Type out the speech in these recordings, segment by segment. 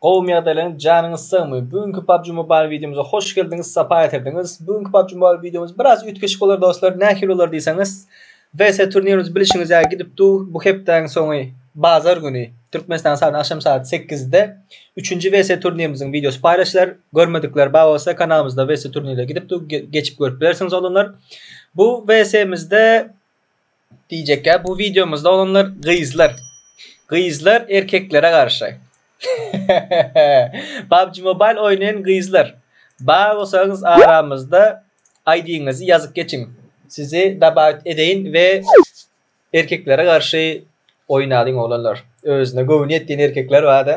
Gowumy ýagdaýlaryň janyňyz sagmy bu günki PUBG Mobile wideomyza hoş geldiňiz sapa getirdiňiz bu günki PUBG Mobile wideomyz biraz üýtgeşik bolar dostlar nähili bolar diýseňiz WC turnirimiz bilişiňiz ýaly gidip dur bu hepdäň soňy bazar güni Türkmenistan saat agşam saat sekizde üçünji WC turnirimiziň wideosy paýlaşylar görmedikler bar bolsa kanalymyzda WC turnirler gidip dur geçip görüp bilersiňiz oglanlar bu WC mizde Diýjekkä bu wideomyzda olanlar gyzlar. Gyzlar erkeklere garşy. PUBG Mobile oýnaýan gyzlar. Bar bolsaňyz aramyzda ID-ňizi ýazyp geçiň. Sizi dabawit edeýin we erkeklere garşy oýnalyň oglanlar. Özüne göwni ýetýän erkekler barda.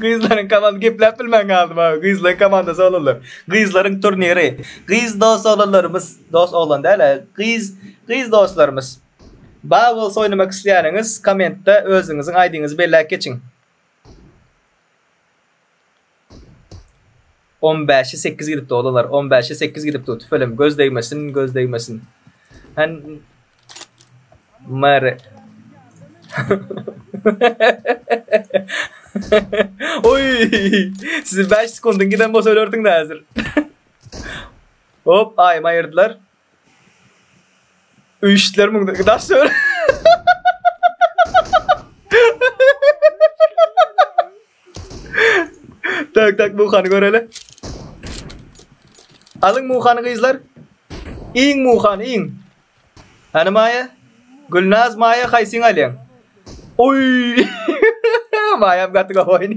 Gyzlaryň komandasy gepläp bilmän galdy mawy gyzlaryň komandasy oglanlar gyzlaryň turniri gyz dos oglanlarymyz dos oglan däl-ä gyz gyz doslarymyz Bowls oýnamak isleýäniňiz kommentde özüňiziň aýdyňyzy belläp geçiň. On bäşe sekiz gidip dogdalar on bäşe sekiz gidip dog tüfelem göz degmesin göz degmesin Hen Mare Oy Sizi 5 sekundyň giden bolsa ölerdiň da hazir Hop aýyma ayyrdylar Öý işleri müňden daş döwür. tak tak muhany göreli. Alyň muhany gyzlar. Iň muhan iň. Hani Maya? Gülnaz Maya haýsyň alýaň? Oy! Maya gaty gowy oýny.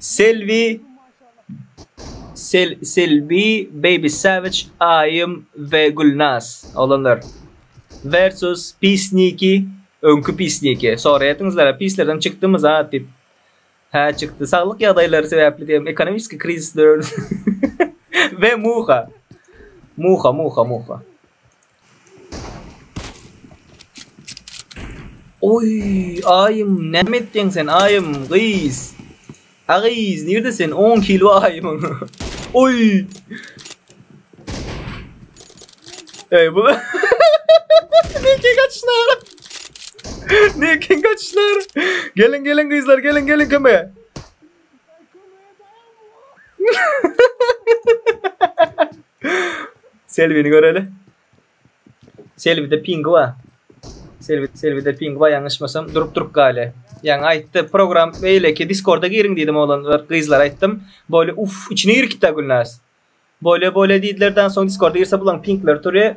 Selbi Sel Selbi Baby Savage Aýym we Gülnaz oglanlar versus Pisniki öňki Pisniki soraýardyňyzlar a Pislerden çykdymy zat diýip hä çykdy saglyk ýagdaýlary sebäpli diýem ekonomiski krizis döwründe we Muha Muha Muha Muha. Oý, aýym, näme etýäň sen, aýym, gyz? A gyz, nirde sen, on kilo aýymyň? Oý! Eý, bu... Neke gaçyşlar! Neke gaçyşlar! Geliň, geliň gyzlar, geliň, geliň kömege! Selbini göreli. Selbide pingi bar. Selbi Selbide pingi bar ýalňyşmasam durup durup gaýly. Ýaňy aýtdy program beýleki Diskorda giriň diýdim oglanlar gyzlar aýtdym. Böyle uff içine girkitdi Gülnaz. Böyle böyle diýdilerden soň Diskorda girse bulaň pinkleri turýar.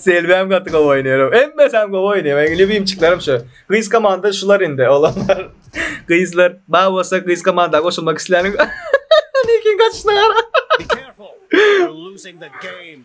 Selbem gaty gowy oýnaýar. Hemmesi hem gowy oýnaýar. Meň lýubimçiklerim şu. Gyz komanda şular indi, olanlar. Gyzlar, bar bolsa gyz komanda goşulmak isläniň. Nikin gaçyşyna gara. Be careful. You're losing the game.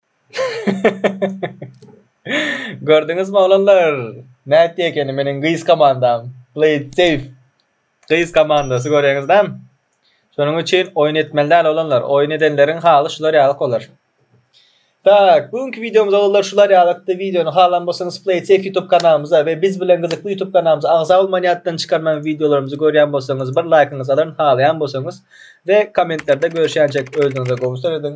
Gördüňizmi oglanlar nätdi ekeni meniň gyz komandam play it safe gyz komandasy göreňizdämi şonuň üçin oýun etmeli däl oglanlar oýun edenleriň haly şular ýalyk bolar tak bu günki wideomyz oglanlar şular ýalykdy wideony halan bolsaňyz play it safe youtube kanalymyza we biz bilen gyzykly youtube kanalymyza agza bolman ýatdan çykarman wideolarymyzy görýän bolsaňyz bir laýkyňyzy alaryn halaýan bolsaňyz we kommentlerde görüşýänçek özüňize gowy serediň